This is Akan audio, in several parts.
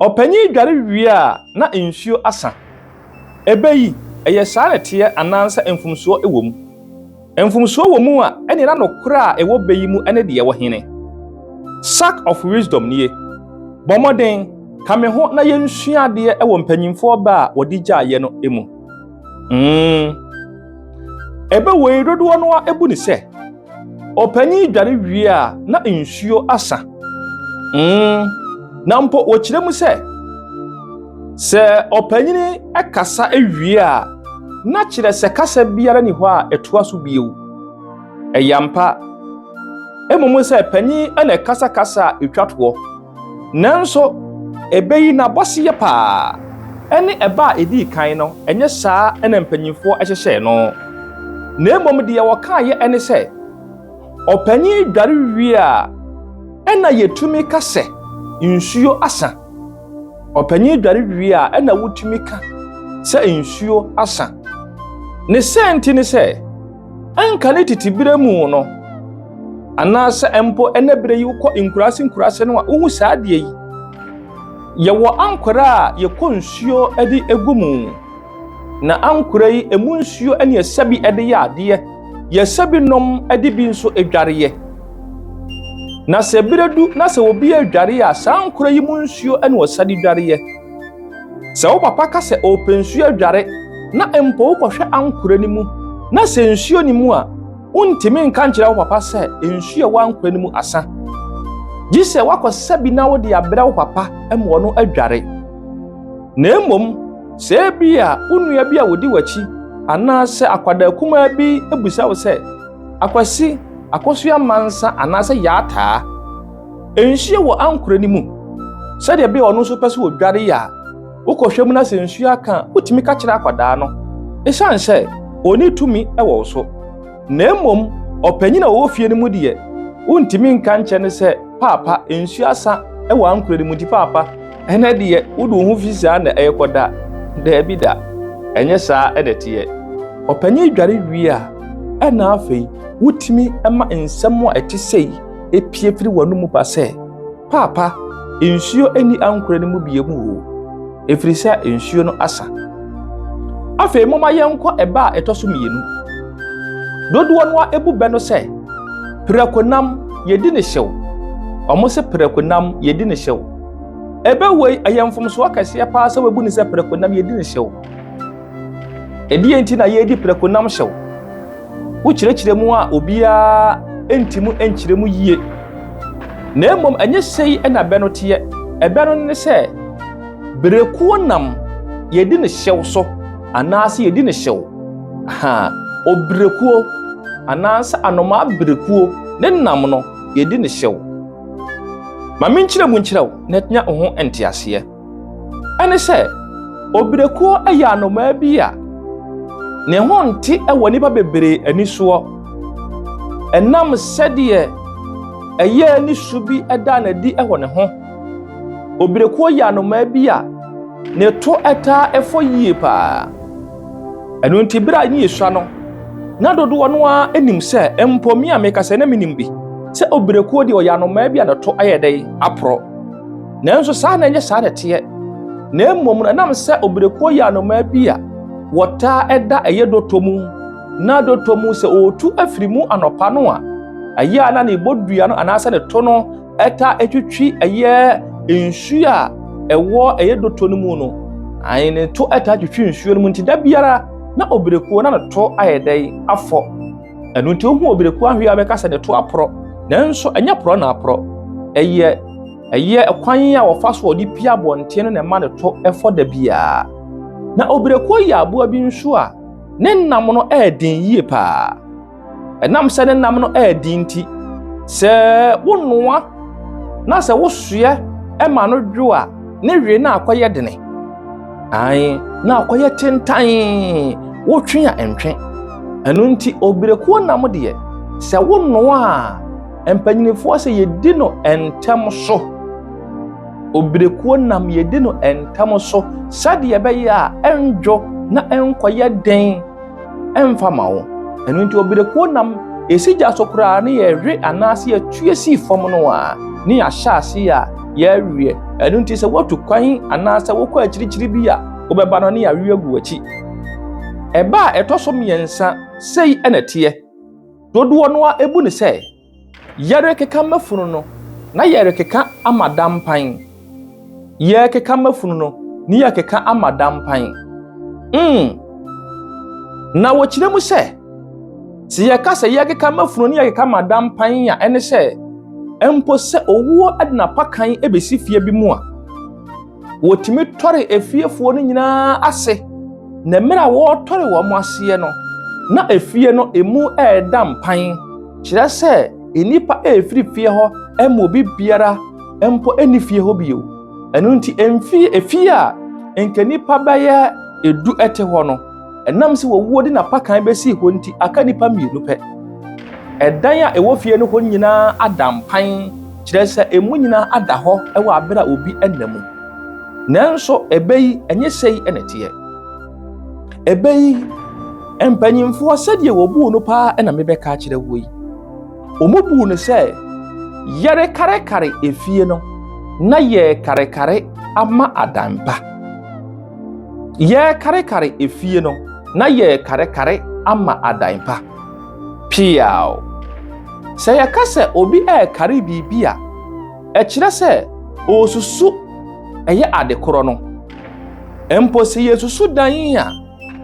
Ɔpanyin yi dware wie a, na nsuo asa. Ɛbɛ yi, ɛyɛ saa na ɛteɛ anaasɛ mfomsoɔ wɔ mu? Mfomsoɔ wɔ mu a, ɛnneɛ na nokorɛ a ɛwɔ bɛ yi mu ne deɛ ɛwɔ he? Sack of Wisdom nie. Bɔ mmɔden, ka me ho na yɛnsua adeɛ wɔ mpanyimfoɔ bɛ a wɔde gyaeɛ no mu. Mmn. Ɛbɛ wei dodoɔ no ara bu no sɛ. Ɔpanyin dware wie a na nsuo asa. Mm, na mpo wɔkyerɛ mu sɛ sɛ ɔpanyin kasa wie a na kyerɛ sɛ kasa biara ni hɔ a ɛtoa so bio. Ɛyɛ ampa. Mmom sɛ panyin na ɛkasakasa a ɛtwa toɔ. Nanso, ɛbɛyi n'abɔseyɛ paa. Ɛne ɛbɛ a edii kan no, ɛnyɛ saa na mpanimfoɔ hyehyɛɛ no. Na mmom deɛ wɔkaeɛ ne sɛ, Ɔpanin dware wie a, ɛna yɛtumi ka sɛ nsuo asa. Ɔpanin dware wie a, ɛna wotumi ka sɛ nsuo asa. Ne sɛ nti ne sɛ, Ɛnka ne tete berɛ mu no, anaasɛ mpo ɛnɛ berɛ yi wokɔ nkuraase nkuraase no a, wohu saa adeɛ yi. Yɛwɔ ankorɛ a yɛkɔ nsuo de gu mu, na ankorɛ yi emu nsuo ne ɛsɛ bi de yɛ adeɛ, yɛsɛ bi nom de bi nso dwareɛ. Na sɛ berɛ du na sɛ obi adware a, saa ankorɛ yi mu nsuo na ɔsa de dwareɛ. Sɛ wo papa ka sɛ ɔrepɛ nsuo adware na mpo wokɔhwɛ ankora no mu na sɛ nsuo nni mu a, wontumi nka nkyerɛ wo papa sɛ nsuo a ɛwɔ ankora no mu asa. Gye sɛ woakɔsa bi na wode abrɛ wo papa ma ɔno adware. Na mmom, sɛ ebia wo nua bi a ɔdi w'akyi anaasɛ akwadaa kumaa bi bisa wo sɛ, Akwasi, akosua mma nsa anaasɛ yɛ ataa? Nsuo wɔ ankorɛ no mu sɛdeɛ ɛbɛyɛ ɔno nso pɛ sɛ ɔdware yɛ a, wokɔhwɛ mu na sɛ nsuo aka a, wotumi ka kyerɛ akwadaa no. Ɛsiane sɛ ɔni tumi wɔ wo so. Na mmom ɔpanyin a ɔwɔ fie no mu deɛ, wontumi nka nkyerɛ no sɛ, Paapa, nsuo asa wɔ ankorɛ no mu nti paapa, ɛnɛ deɛ wode wo ho fi saa na ɛrekɔda. Daabi da, ɛnyɛ saa na ɛteɛ. Ɔpanyin dware wie a, ɛnna afei wotumi ma nsɛm a ɛte sei epue firi w'anomu ba sɛ, Paapa, nsuo nni ankorɛ no mu bio mu oo, ɛfiri sɛ nsuo no asa. Afei momma yɛnkɔ ɛbɛ a ɛtɔ so mmienu. Dodoɔ no ara bu bɛ no sɛ, Prakonam, yɛdi ne hyew. Wɔn se prakonam, yɛdi ne hyew. Ɛbɛ wei, ɛyɛ mfomsoɔ kɛseɛ paa sɛ wabu ne sɛ prakonam, yɛdi ne hyew. Ɛdeɛ nti na yɛredi prakonam hyew? Wokyerɛkyerɛ mu a obiara nti mu nkyerɛ mu yie. Na mmom ɛnyɛ sei na bɛ no teɛ. Ɛbɛ no ne sɛ berekuo nam yɛdi ne hyew so anaasɛ yɛdi ne hyew. Ha, oberekuo anaasɛ anomaa berekuo ne nam no yɛdi ne hyew. Ma menkyerɛ mu nkyerɛ wo na nya wo ho nteaseɛ. Ɛne sɛ, obirekuo yɛ anomaa bi a ne ho nte wɔ nnipa bebree ani soɔ. Ɛnam sɛdeɛ ɛyɛ ne su bi da no adi wɔ ne ho. Obirekuo yɛ anomaa bi a ne to taa fɔ yie paa. Ɛno nti berɛ a ne yɛsua no, na dodoɔ no ara nim sɛ mpo me a mekasa na menim bi sɛ obirekuo deɛ ɔyɛ anomaa bi a ne to ayɛ dɛn aporɔ. Nanso saa na ɛnyɛ saa na ɛteɛ, na mmom no ɛnam sɛ obirekuo yɛ anomaa bi a wɔtaa ɛda ɛyɛ dɔtɔ mu, na dɔtɔ mu sɛ ɔretu afiri mu anɔpa no a, ɛyɛ a na ne bɔdua no anaasɛ ne to no ɛtaa ɛtwitwi ɛyɛ nsuo a ɛwɔ ɛyɛ dɔtɔ no mu no, ayi ne to ɛtaa twitwi nsuo no mu nti da biara na obirekuo na ne to ayɛ dɛn afɔ. ɛno nti wohu obi de ko ahwe a bɛka sɛ ne to aporɔ nanso ɛnyɛ porɔ na aporɔ ɛyɛ ɛyɛ kwan a wɔfa so wɔde pia abɔnten no na ɛma ne to ɛfɔ da biara na obireko yɛ aboa bi nso a ne nam no ɛɛden yie paa ɛnam sɛ ne nam no ɛɛden nti sɛ wonoa na sɛ wosoɛ ɛma no dwo a ne wee no akɔyɛ dene Ae, na ɔkɔyɛ tentan wotwe a ɛntwe. Ɛno nti obirekuo nam deɛ sɛ wonoa a mpanyinfoɔ sɛ yɛdi no ntɛm so. Obirekuo nam yɛdi no ntɛm so sɛdeɛ ɛbɛyɛ a ɛndwo na ɛnkɔyɛ den ɛmfa ma wo. Ɛno nti ɔbrɛkuo nam ɛsi gya so koraa ne yɛwe anaase yɛtue si fam no a, ne yɛahyɛ ase a yɛaweɛ. Ɛno nti sɛ woatu kwan anaasɛ wokɔ akyirikyiri bi a wobɛba no ne yɛawe agu w'akyi. Ɛba a ɛtɔ so mmiɛnsa, sei na ɛteɛ. Dodoɔ no ara bu no sɛ. Yɛrekeka mafunu no, na yɛrekeka ama da mpan. Yɛrekeka mafunu no, ne yɛrekeka ama da mpan. Mm. Na wɔkyerɛ mu sɛ, sɛ yɛka sɛ yɛrekeka mafunu ne yɛrekeka ama da mpan a, ɛne sɛ, mpo sɛ owuo de n'apakan bɛsi fie bi mu a, Wɔtumi tɔre efiefoɔ no nyinaa ase, na mmerɛ a wɔretɔre wɔn aseɛ no, na efie no emu ɛreda mpan, kyerɛ sɛ nnipa ɛrefiri fie hɔ ɛma obi biara mpo ɛnni fie hɔ bio. Ɛno nti, mfie, efie a nka nnipa bɛyɛ edu ɛte hɔ no, Ɛnam sɛ wawuo de n'apakan bɛsii hɔ nti, aka nnipa mmienu pɛ. Ɛdan a ɛwɔ fie no hɔ nyinaa ada mpan, kyerɛ sɛ emu nyinaa ada hɔ wɔ abere a obi nna mu. Nanso ɛbɛ yi, ɛnyɛ sɛi na ɛteɛ. Ɛbɛ yi, mpanyimfoɔ sɛdeɛ wɔbuu no paa na mebɛka akyerɛ wo yi. Wɔbuu no sɛ yɛrekarekare efie no na yɛrekarekare ama adampa. Yɛrekarekare efie no, na yɛrekarekare ama adan pa. Piaw. Sɛ yɛka sɛ obi rekare biribi a, ɛkyerɛ sɛ ɔresusu ɛyɛ ade korɔ no. Mpo sɛ yɛsusu dan yi a,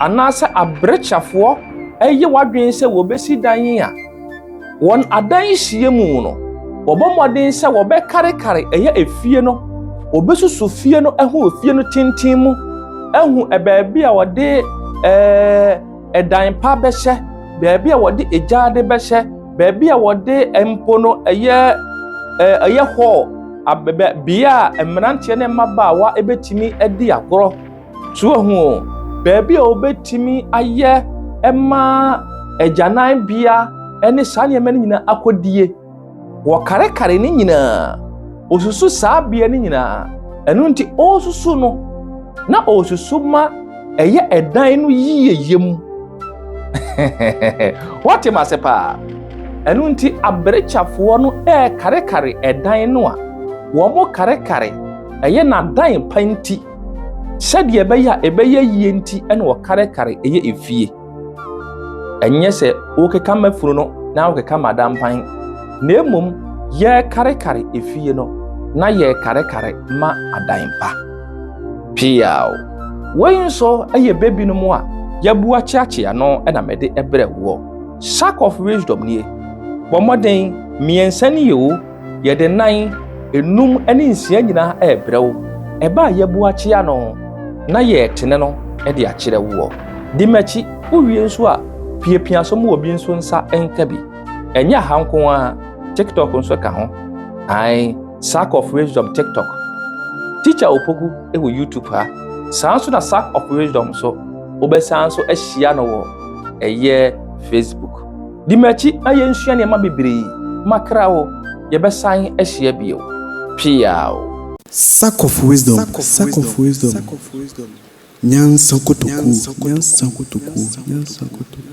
anaasɛ aberekyafoɔ ɛyɛ w'adwene sɛ wɔbɛsi dan yi a, Wɔn adan nhyiam mu no, wɔbɔ mmɔden sɛ wɔbɛkarekare ɛyɛ efie no, wɔbɛsusu fie no ho wɔ fie no tenten mu, ahu baabi a wɔde ɛɛ ɛdan pa bɛhyɛ, baabi a wɔde egyaade bɛhyɛ, baabi a wɔde mpo no ɛyɛ ɛɛ ɛyɛ hall, bea a mmeranteɛ ne mmabaawa bɛtumi adi agorɔ. So ohu baabi a obetumi ayɛ ma agyananbea ne saa nneɛma no nyinaa akodie? Wɔkarekare ne nyinaa. Osusu saa bea no nyinaa. Ɛno nti ɔresusu no na ɔresusu ma ɛyɛ ɛdan no yiyeyɛ mu. Wɔte m ase paa. Ɛno nti aberekyafoɔ no ɛrekarekare ɛdan no a wɔkarekare ɛyɛ n'adan pa nti. Sɛdeɛ ɛbɛyɛ a ɛbɛyɛ yie nti na wɔkarekare ɛyɛ efie. Ɛnyɛ sɛ wokeka ma funu no na wokeka ma dampan, na mmom yɛrekarekare efie no na yɛrekarekare ma adan pa. Piaw. Wei nso ɛyɛ bebi no mu a yɛbu akyeakyea no na mede ɛbrɛ woɔ. Sack of wisdom nie. Bɔ mmɔden mmiɛnsa ni yɛ o. Yɛde nan, enum ne nsia nyinaa rebrɛ wo. Ɛba a yɛbu akyea no na yɛretene no de akyerɛ woɔ. Di m'akyi, wowie nso a piapia so ma obi nso nsa nka bi. Ɛnyɛ aha nko ara, TikTok nso ka ho. Ae, Sack of Wisdom TikTok. Teacher Opoku wɔ YouTube ha. Saa nso na Sack of Wisdom nso, wobɛsan nso ahyia no wɔ ɛyɛ Facebook. Di m'akyi na yɛnsua nneɛma bebree ma kra o, yɛbɛsan ahyia bio. Peaw. Sack of wisdom, sack of wisdom, Nyansa kotokuo, nyansa kotokuo, nyansa kotokuo.